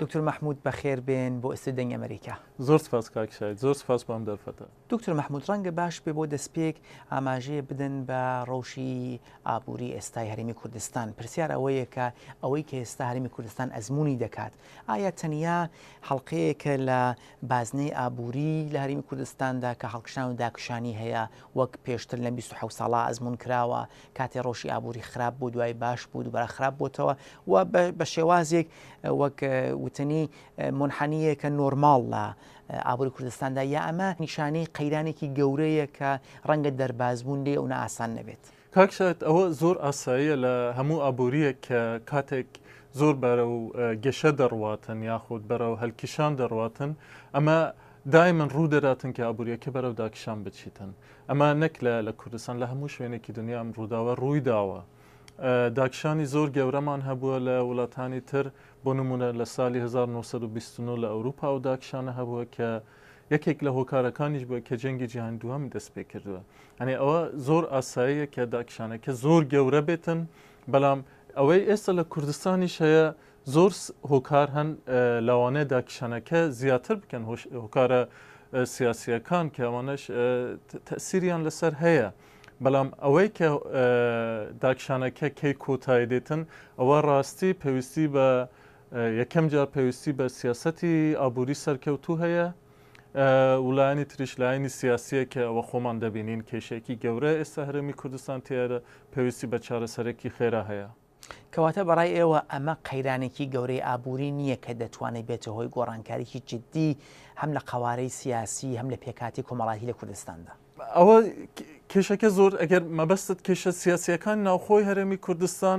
دکتور محمود بەخێر بێن بۆ ئستی دەنگ ئەمریکا زۆر سپاس کاکشای زۆر سپاس بۆم دەرفەتە دکتور محمود ڕەنگە باش پێ بۆ دەستپێک ئاماژەیە بدەن بە ڕەوشی ئابووری ئێستای هەرمی کوردستان پرسیار ئەوەیە کە ئەوەی کە ئێستا هەرمی کوردستان ئەزمموی دەکات ئایا تەنیا هەڵلقەیەکە لە بازنەی ئابووری لە هەرێمی کوردستاندا کە هەڵکشان و داکشانی هەیە وەک پێشتر لەم بیست و حەوت ساڵە ئەزموون کراوە، کاتێ ڕەوشی ئابووری خراپ بوو دوای باش بوو دووبارە خراپ بۆتەوە و بە شێوازێک وەک وتنی مونحەنییەکە نۆرماڵ لە ئابووری کوردستاندا یا ئەمە نیشانەی قەیرانێکی گەورەیە کە ڕەنگە دەربازبوون لێ و نائاسان نەبێت. کاک شاد ئەوە زۆر ئاساییە لە هەموو ئابوورییەک کە کاتێک زۆر بەرەو گەشە دەڕواتن یاخود بەرەو هەلکیشان دەڕواتن ئەمە دایمن ڕوو دەداتن کە ئابووریەکە بەرەو داکیشان بچیتن ئەمە نەک لە لە کوردستان لە هەموو شوێنێکی دنیا ئەم ڕووداوە ڕووی داوە داکشانی زۆر گەورەمان هەبووە لە وڵاتانی تر بۆ نمونە لە سالی 1920 لە ئەوروپا و داکشانە هەبووە کە یەکێک لە هۆکارەکانیش بووە کە جەنگی جیهانی دووهەمی دەست پێ کردووە ئەنێ ئەوە زۆر ئاساییە کە داکشانەکە زۆر گەورە بێتن بەڵام ئەوەی ئێستا لە کوردستانیش هەیە زۆر هۆکار هەن لەوانەیە داکشانەکە زیاتر بکەن هۆکارە سیاسیەکان کە ئەوانش تەسیریان لەسەر هەیە بەڵام ئەوەی کە داکشانەکە کەی کۆتای دێتن ئەوە ڕاستی پێویستی بە یەکەم جار پێویستی بە سیاسەتی ئابووری سەرکەوتوو هەیە و لایەنی تریش لایەنی سیاسیە کە ئەوە خۆمان دەبینین کێشێکی گەورە ئێستا هەرێمی کوردستان تیارە پێویستی بە چارەسەرێکی خێرا هەیە. کەواتە بەڕای ئێوە ئەمە قەیرانێکی گەورەی ئابووری نییە کە دەتوانێت بێتە هۆی گۆڕانکاریی جددی هەم لە قەوارەی سیاسی هەم لە پێکاتی کۆمەڵاتی لە کوردستاندا؟ ئەوە کێشەکە زۆر ئەگەر مەبەستت کێشە سیاسیەکان ناوخۆی هەرێمی کوردستان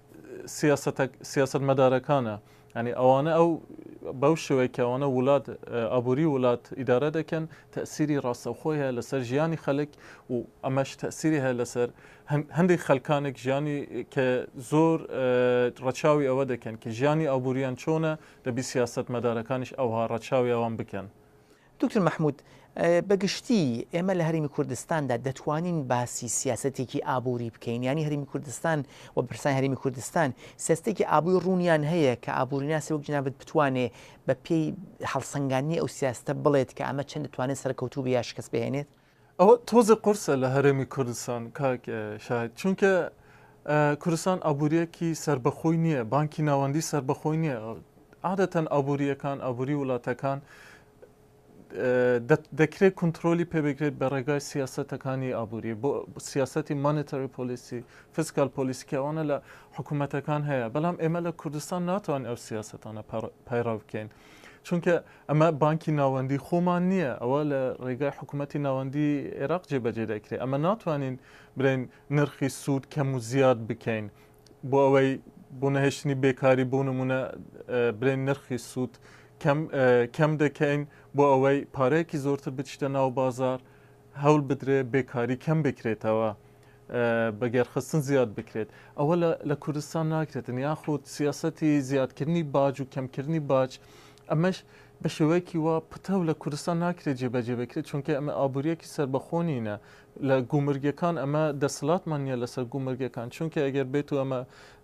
سیاسەتە سیاسەتمەدارەکانە یانی ئەوانە ئەو بەو شێوەیە کە ئەوانە وڵات ئابووری وڵات ئیدارە دەکەن تەسیری ڕاستەوخۆی هەیە لەسەر ژیانی خەلک و ئەمەش تەسیری هەیە لەسەر هەندێک خەلکانێک ژیانی کە زۆر ڕەچاوی ئەوە دەکەن کە ژیانی ئابووریان چۆنە دەبی سیاست مەدارەکانیش ئەوها ڕەچاوی ئەوان بکەن دکتۆر مەحمود، بە گشتی ئێمە لە هەرێمی کوردستاندا دەتوانین باسی سیاسەتێکی ئابووری بکەین یانی هەرێمی کوردستان و برسانی هەرێمی کوردستان سیستێکی ئابووی ڕوونیان هەیە کە ئابووریناسی وەک جنابت بتوانێ بە پێی هەڵسەنگاندنی ئەو سیاستە بڵێت کە ئەمە چەند دەتوانێت سەرکەوتوو بێ یا شکست بهێنێت؟ ئەوە تۆزێ قورسە لە هەرێمی کوردستان کاک شاهید چونکە کوردستان ئابووریەکی سربەخۆی نییە بانکی ناوەندی سربەخۆی نییە عادەتەن ئابووریەکان ئابووری وڵاتەکان دەکرێت کنترۆلی پێبگرێت بە ڕێگای سیاستەکانی ئابووری بۆ سیاستی مانتەری پۆلیسی فسکال پۆلیسکیەوانە لە حکوومەتەکان هەیە بەڵام ئێمە لە کوردستان ناتوان ئەو سیاستانە پەیڕاو بکەین چونکە ئەمە بانکی ناوەندی خۆمان نییە، ئەوە لە ڕێگای حکومەتی ناوەندی عێراق جێبەجێ دەکرێت، ئەمە ناتوانین برێن نرخی سوود کەم و زیاد بکەین بۆ ئەوەی بۆ نەهێشتنی بێکاری بۆ نمونە برێن نرخی سوود کەم دەکەین بۆ ئەوەی پارەیەکی زۆرتر بچتە ناو بازار هەول بدرێ بێکاری کەم بکرێتەوە. بەگێرخستن زیاد بکرێت ئەوە لە کوردستان ناکرێتن یاخود سیاستی زیادکردنی باج و کەمکردنی باج ئەمەش بە شێوەیەکی وا پتەو لە کوردستان ناکرێت جێبەجێ بکرێت چونکە ئەمە ئابوووریەکی سربەخۆنینە لە گومرگەکان ئەمە دەسەڵاتمان نیە لەسەر گومرگەکان چونکە ئەگەر بێت و ئەمە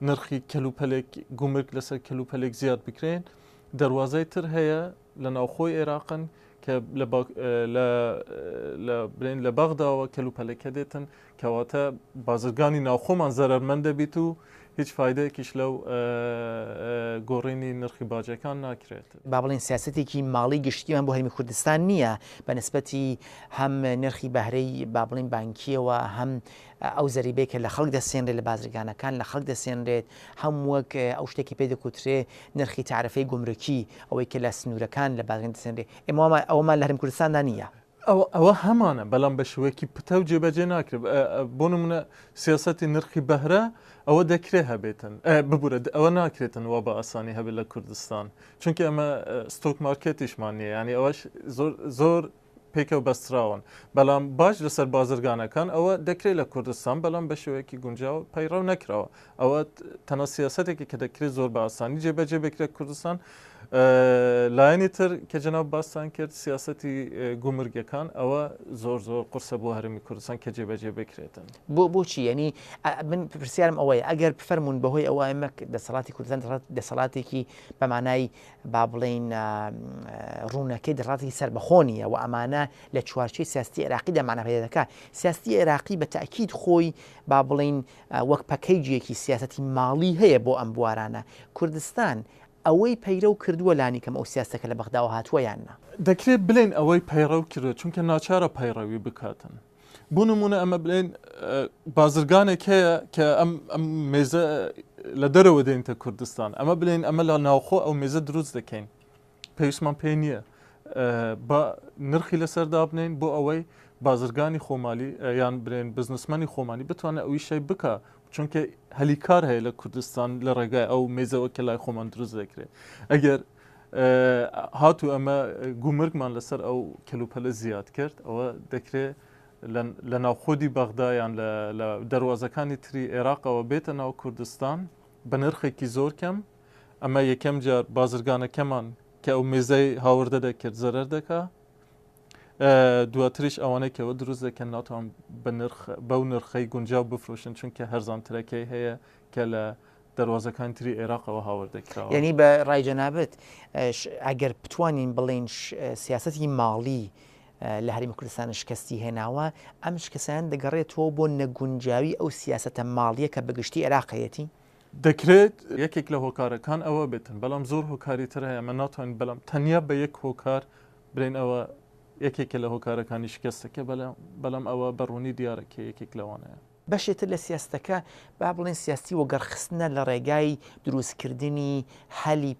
نرخی کەلوپەلێک گومرگ لەسەر کەلوپەلێک زیاد بکرێن دەواازای تر هەیە لە ناوخۆی ئێراقن کە بڵێن لە بەغداوە کەلوپەلەکە دێتن کەواتە بازرگانی ناوخۆمان زەرمەند دەبیت و هیچ فیدەیەکیش لەو گۆڕینی نرخی باجەکان ناکرێت با بڵین سیاستێکی ماڵی گشتیمان بۆ هەرمی کوردستان نییە بەنسبەتی هەم نرخی بەهرەی با بڵین بانکیەوە هەم ئەو زەریبەی کە لە خەڵک دەسێنرێت لە بازرگانەکان لە خەڵک دەسێنرێت هەم وەک ئەو شتێکی پێ دەکوترێ نرخی تارفەی گومرکی ئەوەی کە لە سنوورەکان لە بازرگان دەسێنرێ ئێمە وامان ئەوەمان لە هەرێم کوردستاندا نییە. ئەوە ئەوە هەمانە بەلام بە شێوەیەکی پتەو جێبەجێ ناکرێ بۆ نموونە سیاسەتی نرخی بەهرە ئەوە دەکرێ هەبێتن ببورە ئەوە ناکرێتن وا بە ئاسانی هەبێت لە کوردستان چونکە ئەمە ستۆک مارکێتیشمان نییە یانی ئەوەش زۆر زۆر پێکەوە بەستراون بەڵام باج لەسەر بازرگانەکان ئەوە دەکرێت لە کوردستان بەڵام بە شێوەیەکی گونجاو پەیڕەو نەکراوە ئەوە تەنە سیاستێکی کە دەکرێت زۆر بە ئاسانی جێبەجێ بکرێت کوردستان لایەنی تر کە جناب باستان کرد سیاستی گومرگەکان ئەوە زۆر زۆر قرسە بۆ هەرمی کوردستان کە جێبەجێ بکرێتن بۆ بۆچی ینی من پرسیارم ئەوەیە ئەگەر بفەرمونون بەهۆی ئەوە ئەمەک دەسەڵاتی کوردستان دەسەڵاتێکی بەمانایی با بڵێین ڕوونەکەی ڕەتی سەربەخۆ نیە و ئەمانە لە چوارچی سیاستی عێراقی دەمانە پێ دەکە سیاستی عێراقی بە تاکیید خۆی با بڵین وەک پەکەیجیەکی سیاستی ماڵی هەیە بۆ ئەم بوارانە کوردستان ئەوەی پەیرە و کردووە لانیکەم ئەو سیاستەکە لە بەغداوە هاتووە یاننا دەکرێت بلێن ئەوەی پەیڕەو کردوە چونکە ناچارە پەیڕەوی بکاتن. بۆ نموونە ئەمە بڵێن بازرگانێک هەیە کە ئەم ئەم مێزە لە دەرەوە دێنتە کوردستان ئەمە بڵێن ئەمە لە ناوخۆ ئەو مێزە دروست دەکەین پێویستمان پێ نییە بە نرخی لەسەر دابنین بۆ ئەوەی بازرگانی خۆمالی یان برێن بزنسمەنی خۆمانی بتوانێت ئەوی شەی بکە چونکە هەلی کار هەیە لە کوردستان لە ڕێگای ئەو مێزەوە کە لای خۆمان دروست دەکرێت ئەگەر هاتوو ئەمە گومرگمان لەسەر ئەو کەلوپەلە زیاد کرد ئەوە دەکرێ لە ناوخۆدی بەغدایان لە دەواازەکانی تری عێراقەوە بێتە ناو کوردستان بە نرخێکی زۆر کەم ئەمە یەکەم جار بازرگانەکەمان کە ئەو مێزەی هاوردە دەکرد زەرەر دەکا دواتریش ئەوانەی کەەوە دروست دەکەن ناتوان بەو نرخەی گونجاو بفرۆشن چونکە هەرزانترەکەی هەیە کە لە دەروازەکانی تری عێراقەوە هاوردە کراوە. یعنی بە ڕای جەنابت ئەگەر بتوانین بڵێن سیاستی ماڵی لە هەرمی کوردستان شکستی هێناوە ئەم شکستیان دەگەڕێتەوە بۆ نەگونجاوی ئەو سیاستە ماڵیە کە بەگشتی عێراقەتی دەکرێت یەکێک لە هۆکارەکان ئەوە بێتن بەڵام زۆر هۆکاری تر هەیە من ناتوانین بەڵام تەنیا بە یەک هۆکار برێن ئەوە یەکێکە لە هۆکارەکانی شکستەکە بەڵام ئەوە بەڕوونی دیارە کە یەکێک لەوانەیە بەشێ تر لە سیاستەکە با بڵێن سیاستی وەگەڕخستنە لە ڕێگای دروستکردنی هەلی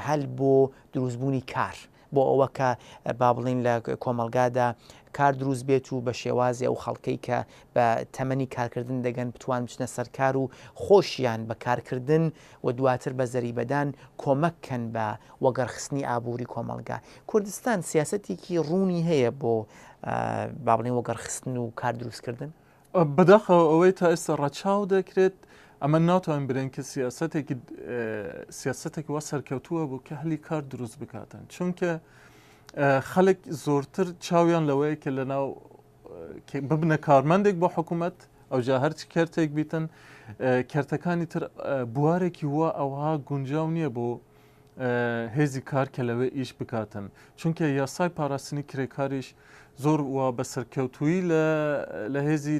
هەل بۆ دروستبوونی کار بۆ ئەوە کە با بڵین لە کۆمەلگادا کار دروست بێت و بە شێوازی ئەو خەڵکەی کە بە تەمەنی کارکردن دەگەن بتوان بچنە سەرکار و خۆشیان بە کارکردن و دواتر بە زەریبەدان کۆمەک کەن بە وەگەڕخستنی ئابووری کۆمەلگا کوردستان سیاستێکی ڕوونی هەیە بۆ بابلین وەگەڕخستن و کار دروستکردن بەداخەوە ئەوەی تا ئێستا ڕەچاو دەکرێت ئەمە ناتوانین برێن کە سیاستێکی سیاستێکی وا سەرکەوتووە بوو کە هەلی کار دروست بکاتن چونکە خەڵک زۆرتر چاویان لەوەیە کە لەناو ببنە کارمەندێک بۆ حکوومەت ئەوجا هەرچ کەرتێک بیتن کەرتەکانی تر بوارێکی وا ئەوها گونجاو نییە بۆ هێزی کار کە لەوێ ئیش بکاتن چونکە یاسای پاراستنی کرێکاریش زۆر و بە سەرکەوتویی لە هێزی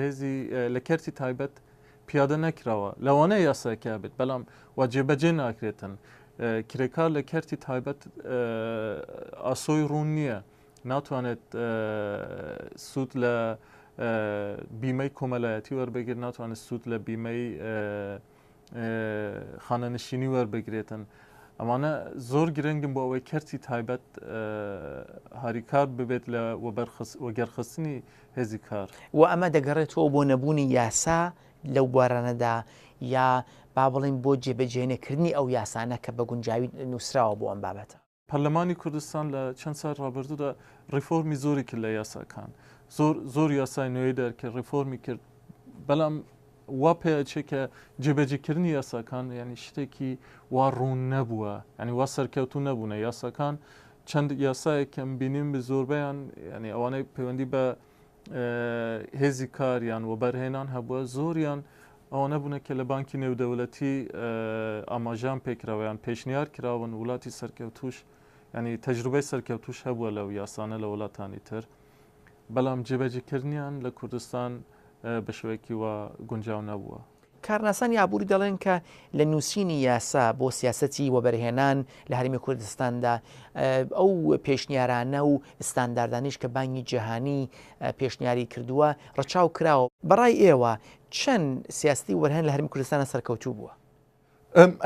هێزی لە کەرتی تایبەت پیادە نەکراوە لەوانەیە یاسایکە بێت بەڵام و جێبەجێ ناکرێتن کرێکار لە کەرتی تایبەت ئاسۆی ڕوون نییە ناتوانێت سوود لە بیمەی کۆمەلایەتی وەربگرێت ناتوانێت سوود لە بیمەی خانەنشینی وەربگرێتن ئەمانە زۆر گرنگم بۆ ئەوەی کەرتی تایبەت هاریکار ببێت لە وەگەرخستنی هێزی کار و ئەمە دەگەڕێتەوە بۆ نەبوونی یاسا لەو بوارانەدا یا با بڵین بۆ جێبەجێنەکردنی ئەو یاسانە کە بە گونجاوی نووسراوە بۆ ئەم بابەتە پەرلەمانی کوردستان لە چەند سای ڕابردوودا ڕیفۆرمی زۆری کرد لە یاساکان زۆر زۆر یاسای نوێی دەرکرد ڕیفۆرمی کرد بەڵام وا پێچێ کە جێبەجیکردنی یاساکان ینی شتێکی وا ڕوون نەبووە ینی وا سەرکەوتو نەبوونە یاساکان چەند یاسایەکەم بینیم بە زۆربیان ینی ئەوانەی پەیوەندی بە هێزی کار یان وەبەرهێنان هەبووە زۆریان ئەوانە بوونە کە لە بانکی نێودەولەتی ئاماژان پێکراوەیان پێشنیار کراون وڵاتی سەرکەوتوش ینی تەجروبەی سەرکەوتوش هەبووە لەو یاسانە لە وڵاتانی تر بەڵام جێبەجیکردنیان لە کوردستان بە شوەیەکی وە گونجاو نەبووە کارناسانی ئابووری دەڵێن کە لە نووسینی یاسا بۆ سیاسەتی وەبەرهێنان لە هەرێمی کوردستاندا ئەو پێشنیارانە و ئستانداردانیش کە بانگی جیهانی پێشنیاری کردووە ڕەچاو کراوە بەڕای ئێوە چەند سیاستی وەرهێن لە هەرمی کوردستانە سەرکەوتوو بووە؟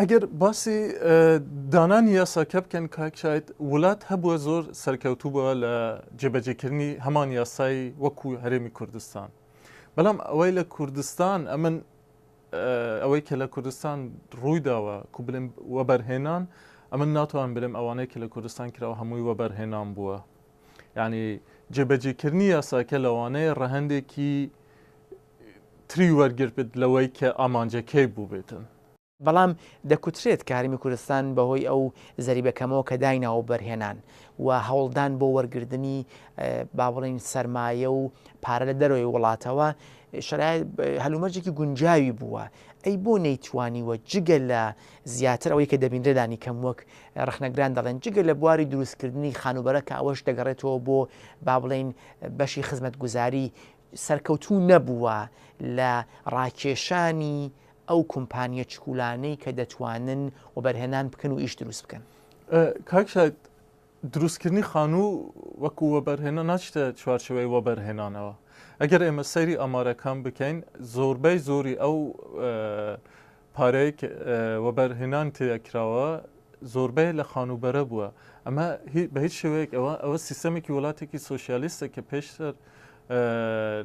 ئەگەر باسی دانانی یاساکە بکەن کاک شاید وولات هەبووە زۆر سەرکەوتوو بە لە جێبەجێکردنی هەمان یاسای وەکو هەرێمی کوردستان بەڵام ئەوەی لە کوردستان ئەمن ئەوەی کە لە کوردستان ڕوویداوە کو بلم وەبەرهێنان ئەمن ناتوان برم ئەوانەی کە لە کوردستان کراوە هەمووی وەبەرهێنان بووە یعنی جێبەجێکردنی یاساکە لەوانەیە ڕەهندێکی تری وەرگربێت لەوەی کە ئامانجەکەی بووبێتن. بەڵام دەکوترێت کە هەرێمی کوردستان بەهۆی ئەو زەریبە کەمەوە کە دایناوە وەبەرهێنان و هەوڵدان بۆ وەرگردنی با بڵێین سەرمایە و پارە لە دەرەوەی وڵاتەوە شەرای هەلومەرجێکی گونجاوی بووە ئەی بۆ نەیتوانیوە جگە لە زیاتر ئەوەی کە دەبینرێدانی کەم وەک ڕخنەگران دەڵێن جگە لە بواری دروستکردنی خانوبەرە کە ئەوەش دەگەڕێتەوە بۆ با بڵین بەشی خزمەت گوزاری سەرکەوتوو نەبووە لە ڕاکێشانی ئەو کۆمپانیە چکولانەی کە دەتوانن وەبەرهێنان بکەن و ئیش دروست بکەن. کاک شاد دروستکردنی خانوو وەکو وەبەرهێنان ناچیتە چوارچێوەی وەبەرهێنانەوە ئەگەر ئێمە سەیری ئامارەکان بکەین زۆربەی زۆری ئەو پارەیەک وەبەر هێنان تێدا کراوە زۆربەی لە خانووبەرە بووە ئەمە بە هیچ شێوەیەک ئەوە ئەوە سیستەمێکی وڵاتێکی سوسیالیستە کە پێشتر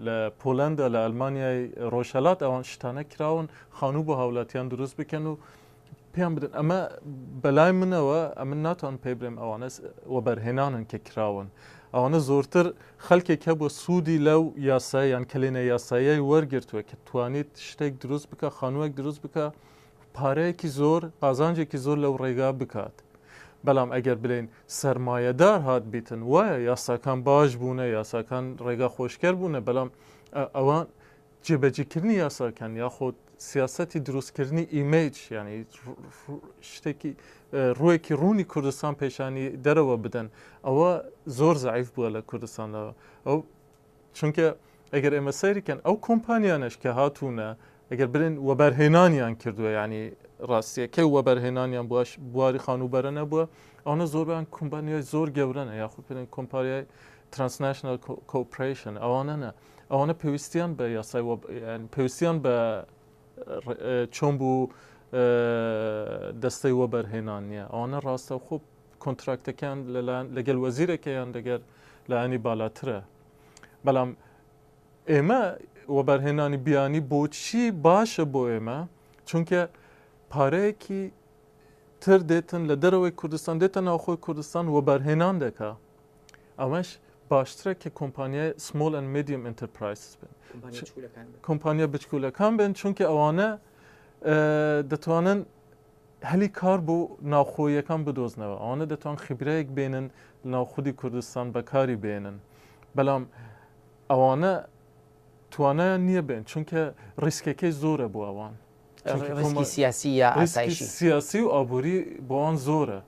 لە پۆلەندا لە ئەلمانیای ڕۆژهلات ئەوان شتانە کراون خانوو بۆ هاولاتیان دروست بکەن و پێیان بدن ئەمە بەلای منەوە ئەمن ناتوان پێ برێم ئەوانە وەبەرهێنانن کە کراون ئەوانە زۆرتر خەلکێک هەبوە سودی لەو یاسایە یان کەلێنە یاساییەی وەرگرتوە کە توانیت شتێک دروست بکا خانوەک دروست بکا پارەیەکی زۆر قازانجێکی زۆر لەو ڕێگا بکات بەلام ئەگەر بلێین سەرمایەدار هات بیتن وایە یاساکان باش بونە یاساکان ڕێگا خۆشکەر بونە بەلام ئەوان جێبەجیکردنی یاساکان یاخود سیاسەتی دروستکردنی ئیمەیج یعنی شتێکی ڕوویەکی ڕوونی کوردستان پێشانی دەرەوە بدەن ئەوە زۆر زعیف بووە لە کوردستانەوە ئەو چونکە ئەگەر ئێمە سەیرکەن ئەو کۆمپانیانش کە هاتوونە ئەگەر برێن وەبەرهێنانیان کردووە ینی ڕاستیەکەی وەبەرهێنانیان بواش بواری خانووبەرە نەبووە ئەوە زۆربان کۆمپانیای زۆر گەورەنە یاخود پێن کۆمپاریای ترانسنشنل کۆپریشن ئەوانەنە ئەوانە پێویستیان بە یاسای پێویستیان بە چۆن بوو دەستەی وە بەرهێنان نییە ئەوانە ڕاستە خوب کۆنتراکتەکان لەلایەن لەگەل وەزیرەکەیان دەگەر لایەنی بالاترە بەڵام ئێمە وەبەرهێنانی بیانی بۆچی باشە بۆ ئێمە چونکە پارەیەکی تر دێتن لە دەرەوەی کوردستان دێتە ناوخۆی کوردستان وەبەرهێنان دەکە ئەوەش باشترە کە کۆمپانیای سمۆل ئەن مدیەم ئینتەرپرایسز بن کۆمپانیا بچکولەکان بن چونکە ئەوانە دەتوانن هەلی کار بۆ ناوخۆیەکان بدۆزنەوە ئەوانە دەتوان خیبرەیەک بێنن ناو خودی کوردستان بەکاری بێنن بەڵام ئەوانە توانایان نییە بێن چونکە ڕیسکەکەی زۆرە بۆ ئەوان سیاسی سیاسی و ئابووری بۆوان زۆرە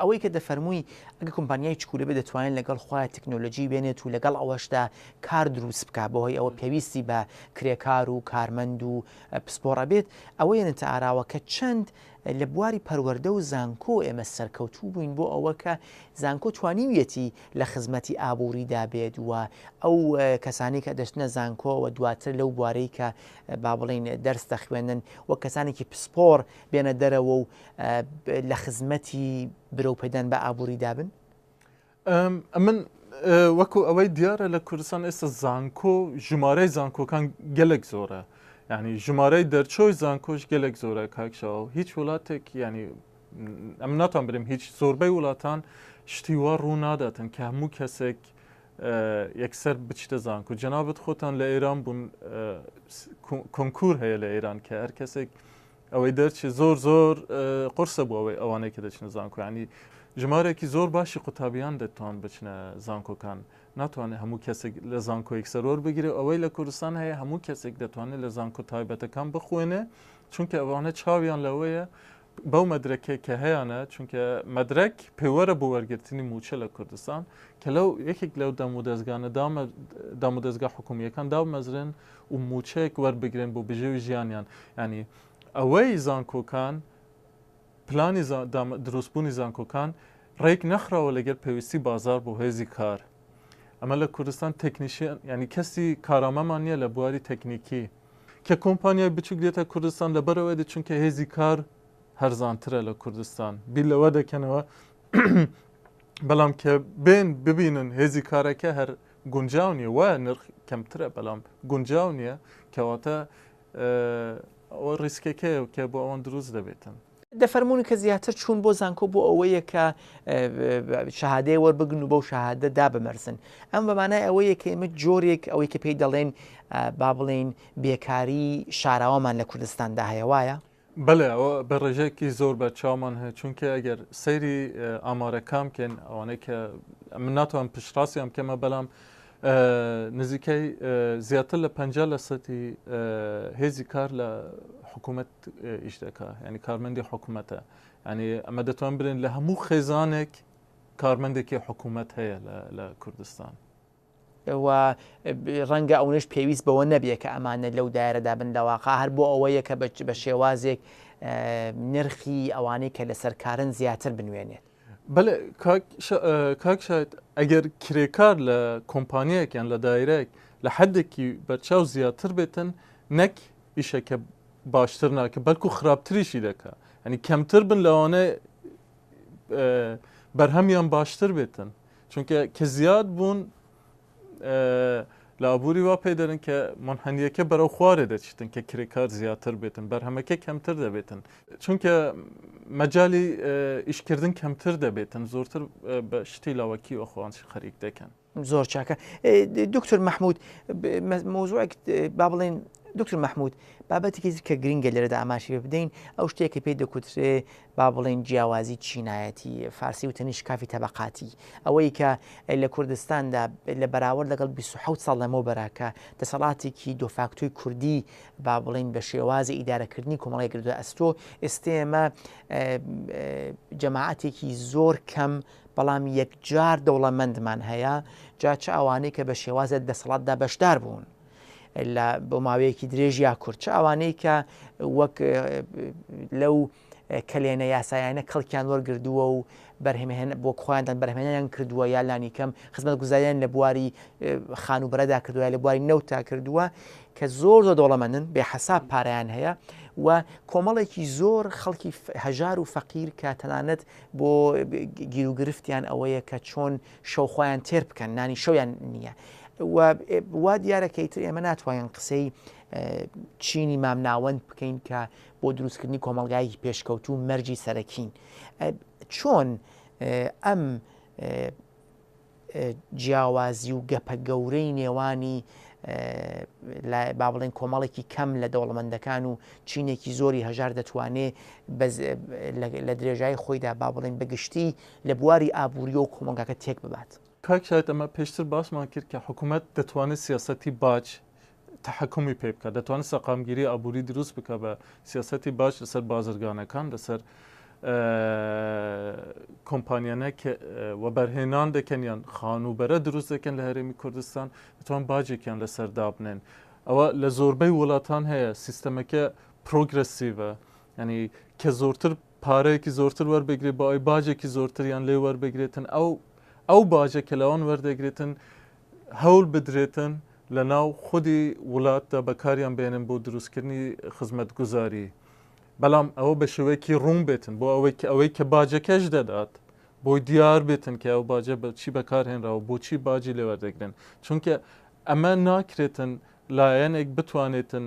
ئەوەی کە دەفەرمووی ئەگە کۆمپانیای چکولە بێ دەتوانین لەگەڵ خۆیان تەکنۆلۆژی بێنێت و لەگەڵ ئەوەشدا کار دروست بکە بەهۆی ئەوە پێویستی بە کرێکار و کارمەند و پسپۆڕ ئەبێت ئەوە یەنەتە ئاراوە کە چەند لە بواری پەروەردە و زانکۆ ئێمە سەرکەوتوو بووین بۆ ئەوە کە زانکۆ توانیویەتی لە خزمەتی ئابووریدا بێت و ئەو کەسانی کە دەشتنە زانکۆەوە دواتر لەو بوارەی کە با بڵین دەرس دەخوێنن و کەسانێکی پسپۆر بێنە دەرەوە و لە خزمەتی برەو پێدان بە ئابووری دابن؟ ئەمن وەکو ئەوەی دیارە لە کوردستان ئێستا زانکۆ ژمارەی زانکۆکان گەلک زۆرە ینی ژمارەی دەرچۆی زانکۆش گەلک زۆرە کاکشەوە هیچ وڵاتێک ینی ئەم ناتان برم هیچ زۆربەی وڵاتان شتیوا ڕوو ناداتن کە هەموو کەسێک یەکسەر بچتە زانکو جەنابەت خۆتان لە ئێران بوون کۆنکور هەیە لە ئێران کە هەر کەسێک ئەوەی دەرچێ زۆر زۆر قورسە بۆ ئەوەی ئەوانەی کە دەچنە زانکۆ ینی ژمارەێکی زۆر باشی قوتابیان دەتوان بچنە زانکۆکان ناتوانێت هەموو کەسێک لە زانکۆیەک سەرۆر بگرێ ئەوەی لە کوردستان هەیە هەموو کەسێک دەتوانێت لە زانکۆ تایبەتەکان بخوێنێ چونکە ئەوانە چاویان لەوەیە بەو مەدرەکێ کە هەیەە چونکە مەدرک پێوەرە بۆ وەرگرتنی موچە لە کوردستان کە لەو یەکێک لەو دەم و دەستگانە دامە دەم و دەستگا حکومیەکان دامەزرن و موچەیەک وەربگرن بۆ بژێوی ژیانیان یانی ئەوەی زانکۆکان پلانی دروستبوونی زانکۆکان ڕێک نەخراوە لەگەر پێویستی بازار بۆ هێزی کار ئەمە لە کوردستان تەکنیشیان ینی کەسی کارامەمان نییە لە بواری تەکنیکی کە کۆمپانیای بچوک دێتە کوردستان لەبەرەوەی دە چونکە هێزی کار هەرزانترە لە کوردستان بیر لەوە دەکەنەوە بەڵام کە بێن ببینن هێزی کارەکە هەر گونجاو نیە وایە نرخ کەمترە بەلام گونجاو نیە کەواتە ئەوە ریسکەکەیە کە بۆ ئەوان دروست دەبێتن. دەفەرموون کە زیاتر چوون بۆ زانکۆ بۆ ئەوەیە کە شەهادەیە وەربگرن و بەو شەهادە دابمەرزن ئەمە بە مانای ئەوەیە کە ئێمە جۆرێک ئەوەی کە پێی دەڵێن با بڵێین بێکاری شاراوەمان لە کوردستاندا هەیە وایە؟ بەلێ ئەوە بە رێژەیەکی زۆر بە چاومان هەیە چونکە ئەگەر سەیری ئامارەکان بکەین ئەوانەی کە من ناتوان پشتڕاستیان بکەمە بەلام نزیکەی زیاتر لە پ لە سەتی هێزی کار لە حکوومەت ئیش دەکە ینی کارمەندی حکوومەتە ینی ئەمە دەتوان برێن لە هەموو خێزانێک کارمەندێکی حکوومەت هەیە لە کوردستان. و ڕەنگە ئەونەش پێویست بەوە نەبێ کە ئەمانە لەو دایرەدا بن لەواقع هەر بۆ ئەوەیە کە بە شێوازێک نرخی ئەوانەی کە لەسەر کارن زیاتر بنوێنێت بەێ کاک شاید ئەگەر کرێکار لە کۆمپانیەک یان لە دایرەک لە حدێکی بەرچاو زیاتر بێتن نەک ئیشەکە باشتر ناکە بەلکو خراپتریشی دەکە ئەنی کەمتر بن لەوانە بەرهەمیان باشتر بێتن چونکە کە زیاد بوون لە ئابووری وا پێ دەرن کە منحنیەکە بەرەو خوارێ دەچیتن کە کرێکار زیاتر بێتن بەرهەمەکە کەمتر دەبێتن چونکە مەجای ئیشکردن کەمتر دەبێتن زۆرتر بە شتی لاوەکی وەخواان خەریک دەکەن زۆر چاکە دکتور مححمود مۆزوعێک با بڵێن دکتور مححمود بابەتێکی کە گرنگە لێرەدا ئاماشی بدەین ئەو شتێکی پێی دەکوترێ با بڵێین جیاوازی چینایەتی، فارسی وتەنی شکافی تەبەقاتی، ئەوەی کە لە کوردستاندا لە بەراورد لەگەڵ بیست و حەوت ساڵ لەمەوبەرە کە دەسەڵاتێکی دۆفاکتۆی کوردی با بڵێین بە شێوازی ئیدارەکردنی کۆمەڵگای گرتووە ئەستۆ، ئێستێ ئێمە جەماعەتێکی زۆر کەم بەڵام یەکجار دەوڵەمەندمان هەیە، جا چ ئەوانەی کە بە شێوازێک دەسەڵاتدا بەشدار بوون. لە بۆ ماوەیەکی درێژ یا کورت چ ئەوانەی کە وەک لەو کەلێنە یاسایانە کەڵکیان وەرگردووە و بەرهمێن بۆ خۆیاندان بەرهمێنیان کردووە یا لانیکەم خزمەت گوزاریان لە بواری خان و بەرەدا کردووە لە بواری نەوتا کردووە کە زۆر زۆر دەوڵەمەندن بێ حساب پاریان هەیە و کۆمەڵێکی زۆر خەڵکی هەژار و فەقیر کە تەنانەت بۆ گیروگرفتیان ئەوەیە کە چۆن شەو خۆیان تێر بکەن نانی شەویان نییە و وا دیارە کە ئیتر ئێمە ناتوانین قسەی چینی مامناوەند بکەین کە بۆ دروستکردنی کۆمەلگایەکی پێشکەوتو و مەرجی سەرەکین چۆن ئەم جیاوازی و گەپە گەورەی نێوانی با بڵێن کۆمەڵێکی کەم لە دەوڵەمەندەکان و چینێکی زۆری هەژار دەتوانێت لە درێژای خۆیدا با بڵێن بەگشتی لە بواری ئابوورییەوە کۆمەڵگاکە تێک ببات. کاک شاهید ئەمە پێشتر باسمان کرد کە حکومەت دەتوانێت سیاسەتی باج تەحەکومی پێ بکات دەتوانێت سەقامگیری ئابووری دروست بکە بە سیاسەتی باج لەسەر بازرگانەکان لەسەر کۆمپانیانە کە وەبەرهێنان دەکەن یان خانووبەرە دروست دەکەن لە هەرێمی کوردستان دەتوان باجێکیان لەسەر دابنێن ئەوە لە زۆربەی وڵاتان هەیە سیستەمەکە پرۆگرسیڤە ینی کە زۆرتر پارەیەکی زۆرتر وەربگرێت بۆ ئەوەی باجێکی زۆرتریان لێ وەربگرێتن ئەو ئەو باجە کە لەوان وەردەگرێتن هەول بدرێتن لە ناو خودی وڵاتدا بەکاریان بێنن بۆ دروستکردنی خزمەت گوزاری بەڵام ئەوە بە شێوەیەکی ڕوون بێتن بۆ ئەوەی ئەوەی کە باجەکەش دەدات بۆی دیار بێتن کە ئەو باجە بە چی بەکارهێنراوە بۆچی باجی لێوەردەگرن چونکە ئەمە ناکرێتن لایەنێک بتوانێتن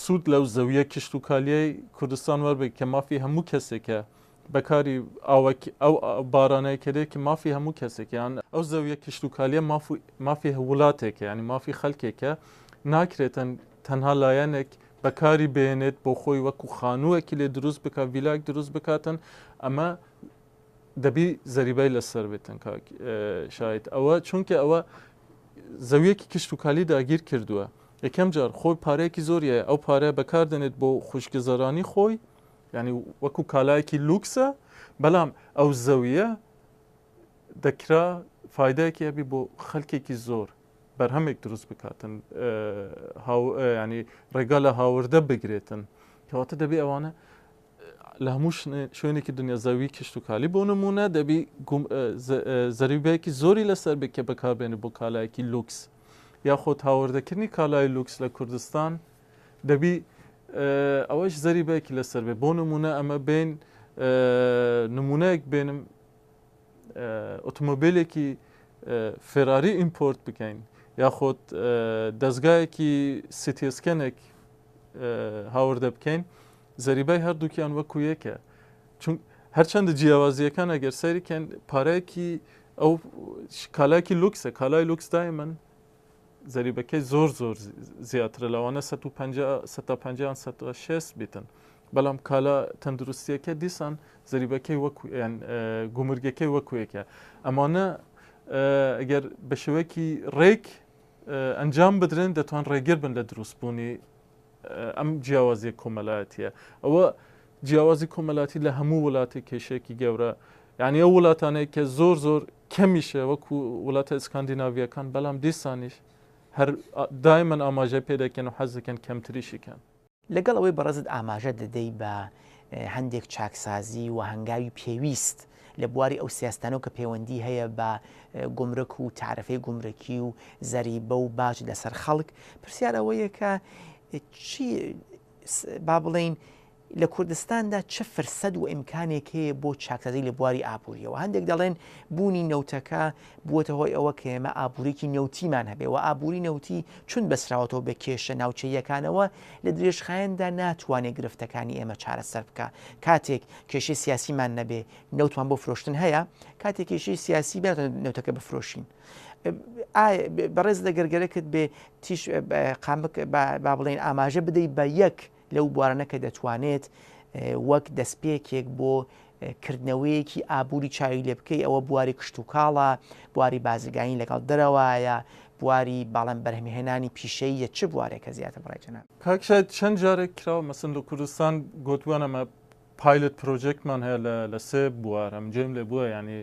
سوود لەو زەوییە کشتوکالییەی کوردستان وەربگرێت کە مافی هەموو کەسێکە، بەکاری ئاوەکی ئەو بارانەی کە دێت کە مافی هەموو کەسێکە، یان ئەو زەوییە کشتوکالییە مافی وڵاتێکە، یانی مافی خەلکێکە، ناکرێتن تەنها لایەنێک بەکاری بهێنێت بۆ خۆی وەکو خانووێکی لێ دروست بکات، ڤیلایەک دروست بکاتن، ئەمە دەبی زەریبای لەسەر بێتن کاک شاید ئەوە چونکە ئەوە زەویەکی کشت و کالی داگیر کردووە یەکەم جار خۆی پارەیەکی زۆریە ئەو پارە بەکاردێنێت بۆ خوشکگەزارانی خۆی ینی وەکو کالایەکی لوکسە بەڵام ئەو زەویە دەکرا فیدایەکی هەبی بۆ خەلکێکی زۆر بەرهەمێک دروست بکاتن ینی ڕێگا لە هاوردە بگرێتن کەواتە دەبێ ئەوانە لە هەموو شوێنێکی دنیا زەوی کشتوکالی بۆ نمونە دەبی زەریبەیەکی زۆری لەسەر بکە بەکاربێنی بۆ کالایەکی لوکس یاخۆ هاوردەکردنی کالای لوکس لە کوردستان دەبی ئەوەش زەریبەیەکی لەسەر بێ بۆ نمونە ئەمە بین نمونەیەک بێنم ئۆتۆمبیلێکی فێراری ئیمپۆرت بکەین یاخۆت دەستگایەکی سیتیسکەنێک هاوردە بکەین زەریبای هەردووکیان وەکو یەکە چون هەرچەندە جیاوازیەکان ئەگەر سەیرکەن پارەیەکی ئەو کالاکی لوکسە کالای لوکس دایمن زەریبەکەی زۆر زۆر زیاترە لەوانە 150 بیتن بەڵام کالا تەندروستیەکە دیسان زەریبەکەی وەکویان گومرگەکەی وەکوێکە ئەمانە ئەگەر بە شێوەیەکی ڕێک ئەنجام بدرێن دەتوان ڕێگر بن لە دروستبوونی ئەم جیاوازیە کۆمەلایەتیە ئەوە جیاوازی کۆمەلاتی لە هەموو وڵاتی کێشێکی گەورە یعنی ئەو وڵاتانەیە کە زۆر زۆر کەمیشە وەکو وڵاتە ئسکاندیناویەکان بەڵام دیسانیش هەر دایمەن ئاماژە پێ دەکەن و حەز دەکەن کەمتریشیکەن لەگەڵ ئەوەی بەڕێزت ئاماژە دەدەی بە هەندێک چاکسازی و هەنگاوی پێویست لە بواری ئەو سیاستانەو کە پێوەندی هەیە بە گومرک و تارفەی گومرکی و زەریبە و باج لەسەر خەڵک پرسیار ئەوەیە کە چی با بڵین لە کوردستاندا چ فرسەد و ئیمکانێک هەیە بۆ چاکسازی لە بواری ئابوووریەوە هەندێک دەڵێن بوونی نەوتەکە بووەتە هۆی ئەوە کە ئێمە ئابوورێکی نەوتیمان هەبێ و ئابووری نەوتی چون بەسراوەتەوە بە کێشە ناوچەیەکانەوە لە درێژخایەندا ناتوانێت گرفتەکانی ئێمە چارەسەر بکە کاتێک کێشەی سیاسیمان نەبێ نەوتمان بۆ فرۆشتن هەیە کاتی کێشەی سیاسی بێت نەوتەکە بفرۆشین بەڕێز لە گەرگەرەکرد بێ تیش قامک با بڵێن ئاماژە بدەی بە یەک لەو بوارانە کە دەتوانێت وەک دەستپێکێک بۆ کردنەوەیەکی ئابووری چاوی لێ بکەی ئەوە بواری کشت و کاڵە بواری بازرگانی لەگەڵ دەرەوەیە بواری باڵم بەرهمهێنانی پیشەیە چ بوارێکە زیاتر بڕێتەنە کاکشای چەند جارێک کراوە مەسن لە کوردستان گوتوانەمە پایلت پرۆجێکتمان هەیە لە لە سێ بوار ئەم جێم لێ بووە یعنی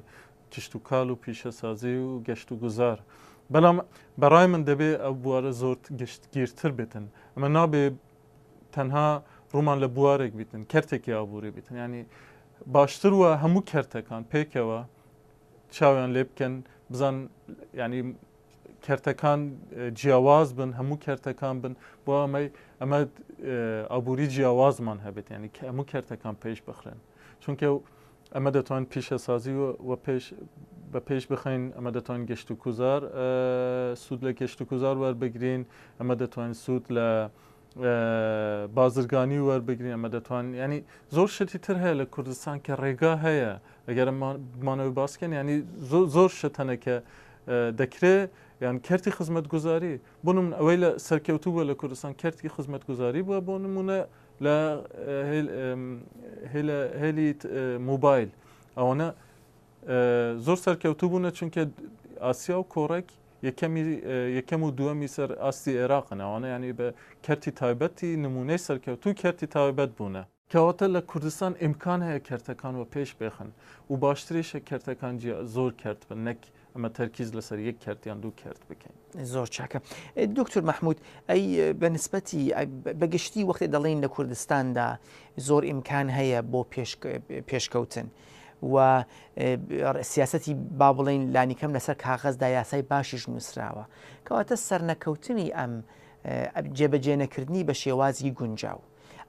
کشتوکال و پیشەسازی و گەشت و گوزار بەڵام بەڕای من دەبێ ئەو بوارە زۆر گشتگیرتر بێتن ئەمە نابێ تەنها ڕوومان لە بوارێک بیتن کەرتێکی ئابووری بیتن ینی باشتر وە هەموو کەرتەکان پێکەوە چاویان لێ بکەن بزان ینی کەرتەکان جیاواز بن هەموو کەرتەکان بن بۆ ئەمەی ئەمە ئابووری جیاوازمان هەبێت ینی کە هەموو کەرتەکان پێش بخرێن چونکە ئەمە دەتوان پیشەسازی و پێش بە پێش بخین ئەمە دەتوان گەشت و کوزار سوود لە گەشت و کوزار وەربگرین ئەمە دەتوان سوود لە بازرگانی وەربگرین ئەمە دەتوان ینی زۆر شتی تر هەیە لە کوردستان کە ڕێگا هەیە ئەگەر بمانەوەی باسکەن ینی زۆر شتەنە کە دەکرێ یان کەرتی خزمەت گوزاری بۆ من ئەوەی لە سەرکەوتو بووە لە کوردستان کەرتی خزمەت گوزاری بووە بۆ نمونە لە هێلی موبایل ئەوەنە زۆر سەرکەوتو بوونە چونکە ئاسیا و کۆڕێک یەکەمی یەکەم و دووەمی سەر ئاستی عێراقن ئەوانە یانی بە کەرتی تایبەتی نمونەی سەرکەوتوو کەرتی تایبەت بوونە. کەواتە لە کوردستان ئیمکان هەیە کەرتەکان وەپێش بێخن و باشتریشە کەرتەکان جیا زۆر کەرت بن نەک ئەمە تەرکیز لەسەر یەک کەرت یان دوو کەرت بکەین. زۆر چاکە دکتور مەحمود ئەی بە نسبەتی بەگشتی وەختێ دەڵێن لە کوردستاندا زۆر ئیمکان هەیە بۆ پێشکەوتن و سیاسەتی با بڵێن لانیکەم لەسەر کاغەزدا یاسای باشیش نووسراوە کەواتە سەرنەکەوتنی ئەم جێبەجێنەکردنی بە شێوازی گونجاو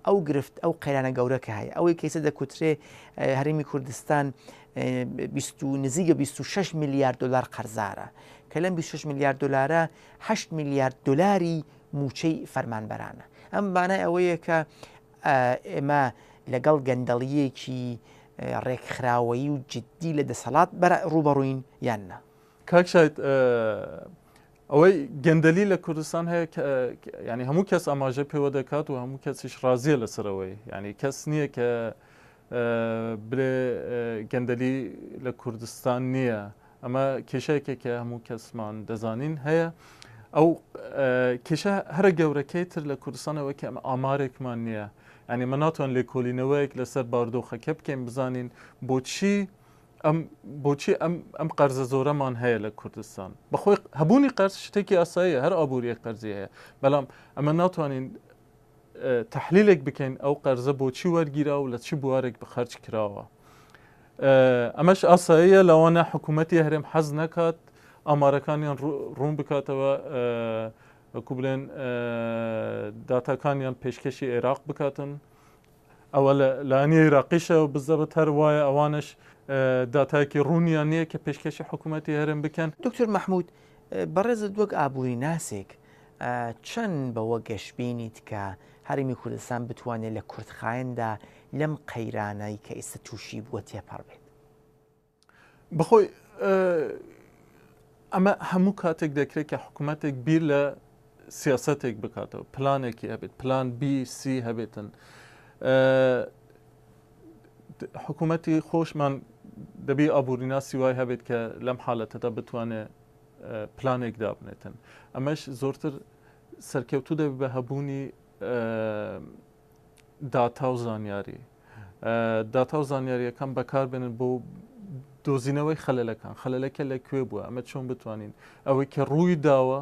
ئەو گرفت ئەو قەیرانە گەورەکە هەیە ئەوەی کەیسە دەکوترێ هەرمی کوردستان نزیگە 26 میلیارد دلار قەرزارە کە لەم 26 میلیارد دلارە 8 میلیارد دلاری موچەی فەرمانبەرانە ئەم بانای ئەوەیە کە ئێمە لەگەڵ گەندەڵییەکی ڕێکخراوەیی و جددی لە دەسەڵات ڕووبەڕووین یان نا؟ کاک شاید ئەوەی گەندەلی لە کوردستان هەیە ینی هەموو کەس ئاماژە پێوە دەکات و هەموو کەسیش ڕازیە لەسەرەوەی ینی کەس نییە کە بلێ گەندەلی لە کوردستان نیە ئەمە کێشەیەکێک کە هەموو کەسمان دەزانین هەیە ئەو کێشە هەرە گەورەکەی تر لە کوردستانەوە کە ئەمە ئامارێکمان نییە ینی من ناتوان لێکۆلینەوەیەک لەسەر باردۆخەکە بکەین بزانین بۆچی ئەم بۆچی ئەم ئەم قەرزە زۆرەمان هەیە لە کوردستان بەخۆی هەبوونی قەرز شتێکی ئاساییە هەر ئابووری قەرزی هەیە بەڵام ئەمە ناتوانین تەحلیلێک بکەین ئەو قەرزە بۆچی وەرگیرا و لە چ بوارێک بەخەرج کراوە ئەمەش ئاساییە لەوانە حکوومەتی هەرێم حەز نەکات ئامارەکانیان ڕوون بکاتەوە وەکو بلێن داتاکانیان پێشکەشی عێراق بکاتن ئەوە لە لانی عێراقیشە بزەبت هەر وایە ئەوانش داتایەکی ڕوونیان نییە کە پێشکەشی حکوومەتی هەرێم بکەن. دکتۆر مەحموود، بەڕێزت وەک ئابووریناسێک چەند بەوە گەشبینیت کە هەرێمی کوردستان بتوانێت لە کورتخایەندا لەم قەیرانەی کە ئیستە تووشی بووە تێپەڕ بێت؟ بەخۆی ئەمە هەموو کاتێک دەکرێت کە حکوومەتێک بیر لە سیاستێک بکاتەوە پلانێکی هەبێت پلان بی سی هەبێتن حکوومەتی خۆشمان دەبی ئابووریناسی وای هەبێت کە لەم حالەتەدا بتوانێت پلانێک دابنێتن ئەمەش زۆرتر سەرکەوتو دەبێت بە هەبوونی داتا و زانیاری داتا و زانیاریەکان بەکاربێنن بۆ دۆزینەوەی خەلەکان خەلەکە لە کوێ بووە ئەمە چۆن بتوانین ئەوەی کە ڕووی داوە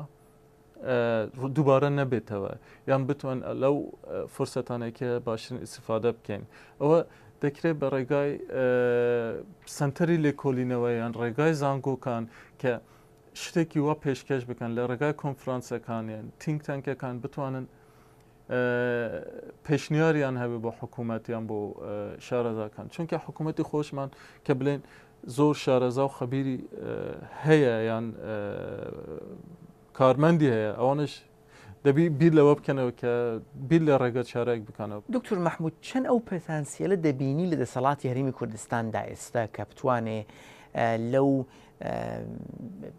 دووبارە نەبێتەوە یان بتوان لەو فرسەتانێکە باشترین ئیسفادە بکەین ئەوە دەکرێت بە ڕێگای سنتەری لێکۆلینەوە یان ڕێگای زانگۆکان کە شتێکی وا پێشکەش بکەن لە ڕێگای کۆنفرانسەکانیان تینگ تەنکەکان بتوانن پێشنیاریان هەبێ بۆ حکوومەتیان بۆ شارەزاکان چونکە حکوومەتی خۆشمان کە بڵێن زۆر شارەزا و خەبیری هەیە یان کارمەندی هەیە ئەوانش دەبی بیر لەوە بکەنەوە کە بیر لە ڕێگە چارەێک بکەنەوە دکتور مححمود چەند ئەو پتانسیلە دەبینی لە دەسەڵاتی هەرمی کوردستاندا ئێستا کە بتوانێ لەو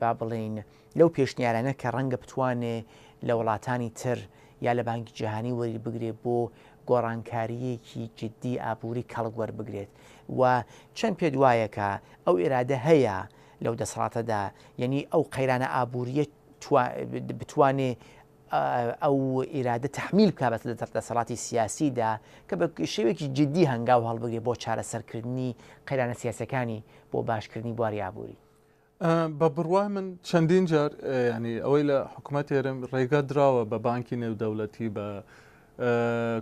با بڵین لەو پێشنیارانە کە ڕەنگە بتوانێ لە وڵاتانی تر یا لە بانکی جیهانی وەری بگرێ بۆ گۆڕانکارییەکی جددی ئابووری کەڵک وەربگرێت و چەند پێت وایە کە ئەو ئیرادە هەیە لەو دەسەڵاتەدا یەنی ئەو قەیرانە ئابوورییە بتوانێ ئەو ئیرادە تەحمیل بکا بە دەسەڵاتی سیاسیدا کە بە شێوەیەکی جددی هەنگاو هەڵبگرێ بۆ چارەسەرکردنی قەیرانە سیاسییەکانی بۆ باشکردنی بواری ئابووری؟ بە بڕوای من چەندین جار ینی ئەوەی لە حکوومەت هێرم ڕێگە دراوە بە بانکی نێودەولەتی بە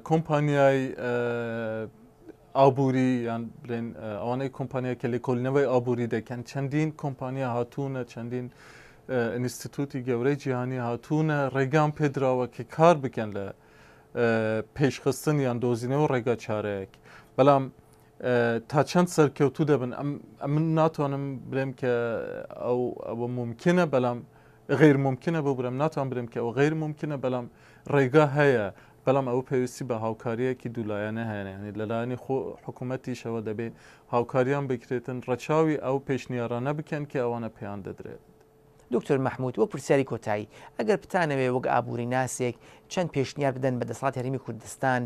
کۆمپانیای ئابووری یان بلێن ئەوانەی کۆمپانیا کە لە کۆلنەوەی ئابووری دەکەن چەندین کۆمپانیا هاتوونە چەندین ئینستیتوتی گەورەی جیهانی هاتوونە ڕێگام پێدراوە کە کار بکەن لە پێشخستن یان دۆزینەوە ڕێگا چارەیەک بەڵام تا چەند سەرکەوتوو دەبن من ناتوانم برێم کە ئەو ئەوە ممکنە بەڵام غیر ممکنە بۆ برم ناتوان برم کە ئەو غیر ممکنە بەڵام ڕێگا هەیە بەڵام ئەو پێویستی بە هاوکاریەکی دوولایەنە هەیەنی لەلایەنی خۆ حکوومەتیشەوە دەبێ هاوکاریان بکرێتن ڕەچاوی ئەو پێشنیارانە بکەن کە ئەوانە پێیان دەدرێت. دکتۆر مەحمود وەک پرسیاری کۆتایی ئەگەر بتانەوێ وەک ئابووریناسێک چەند پێشنیار بدەن بە دەسەڵاتی هەرێمی کوردستان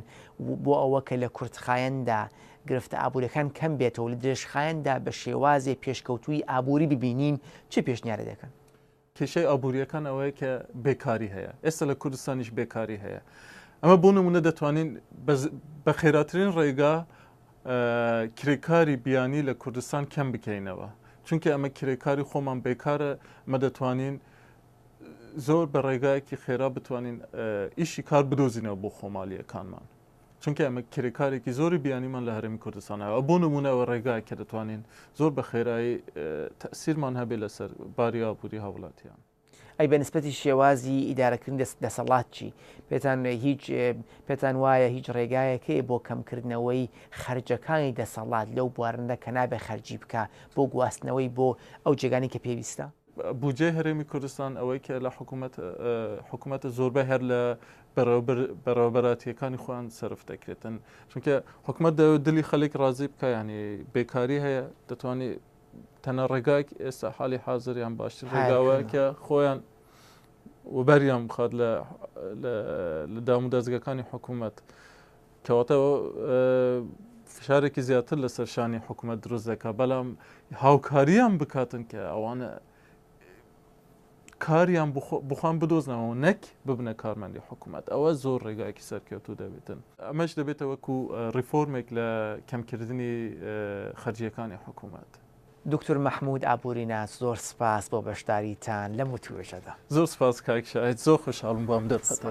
بۆ ئەوە کە لە کورتخایەندا گرفتە ئابووریەکان کەم بێتەوە و لە درێژخایەندا بە شێوازێ پێشکەوتووی ئابووری ببینین چ پێشنیارێ دەکەن؟ کێشەی ئابووریەکان ئەوەیە کە بێکاری هەیە ئێستا لە کوردستانیش بێکاری هەیە ئەمە بۆ نمونە دەتوانین بە خێراترین ڕێگا کرێکاری بیانی لە کوردستان کەم بکەینەوە چونکە ئەمە کرێکاری خۆمان بێکارە مە دەتوانین زۆر بە ڕێگایەکی خێرا بتوانین ئیشی کار بدۆزینەوە بۆ خۆمالیەکانمان چونکە ئەمە کرێکارێکی زۆری بیانیمان لە هەرمی کوردستانەوە بۆ نمونەوە ڕێگای کە دەتوانین زۆر بە خێرایی تەسیرمان هەبێ لەسەر باری ئابووری هاوڵاتیان ئەی بە نسبەتی شێوازی ئیدارەکردنی دەست دەسەڵات چی پێتان هیچ پێتان وایە هیچ ڕێگایەکەی بۆ کەمکردنەوەی خەرجەکانی دەسەڵات لەو بوارندا کە نابێ خەرجی بکە بۆ گواستنەوەی بۆ ئەو جێگانی کە پێویستە؟ بودجەی هەرێمی کوردستان ئەوەی کە لە حکوومەت حکوومەتە زۆربەی هەر لە بەڕێوەبەراتیەکانی خۆیان سرف دەکرێتن چونکە حکوومەت دەوێت دلی خەلێک ڕازی بکە ینی بێکاری هەیە دەتوانێت تەنە ڕێگایك ئێستا حالی حازریان باشتر ڕێگاوە کە خۆیان وبەریان بخات لە لە دام و دەستگەکانی حکوومەت کەواتە فشارێکی زیاتر لە سەرشانی حکوومەت دروست دەکە بەڵام هاوکاریان بکاتن کە ئەوانە کاریان بخۆن بدۆزنەوەو نەک ببنە کارمەندی حکومەت ئەوە زۆر ڕێگایەکی سەرکەوتوو دەبێتن ئەمەش دەبێتە وەکو ڕیفۆرمێک لە کەمکردنی خەرجیەکانی حکومەت. دوکتور مەحمود ئابوریناس زۆر سپاس بۆ بەشداریتان لەم وتوێژەدا. زۆر سپاس کاک شاهید زۆر خۆشحاڵم بۆ ئەم دەرفەتە.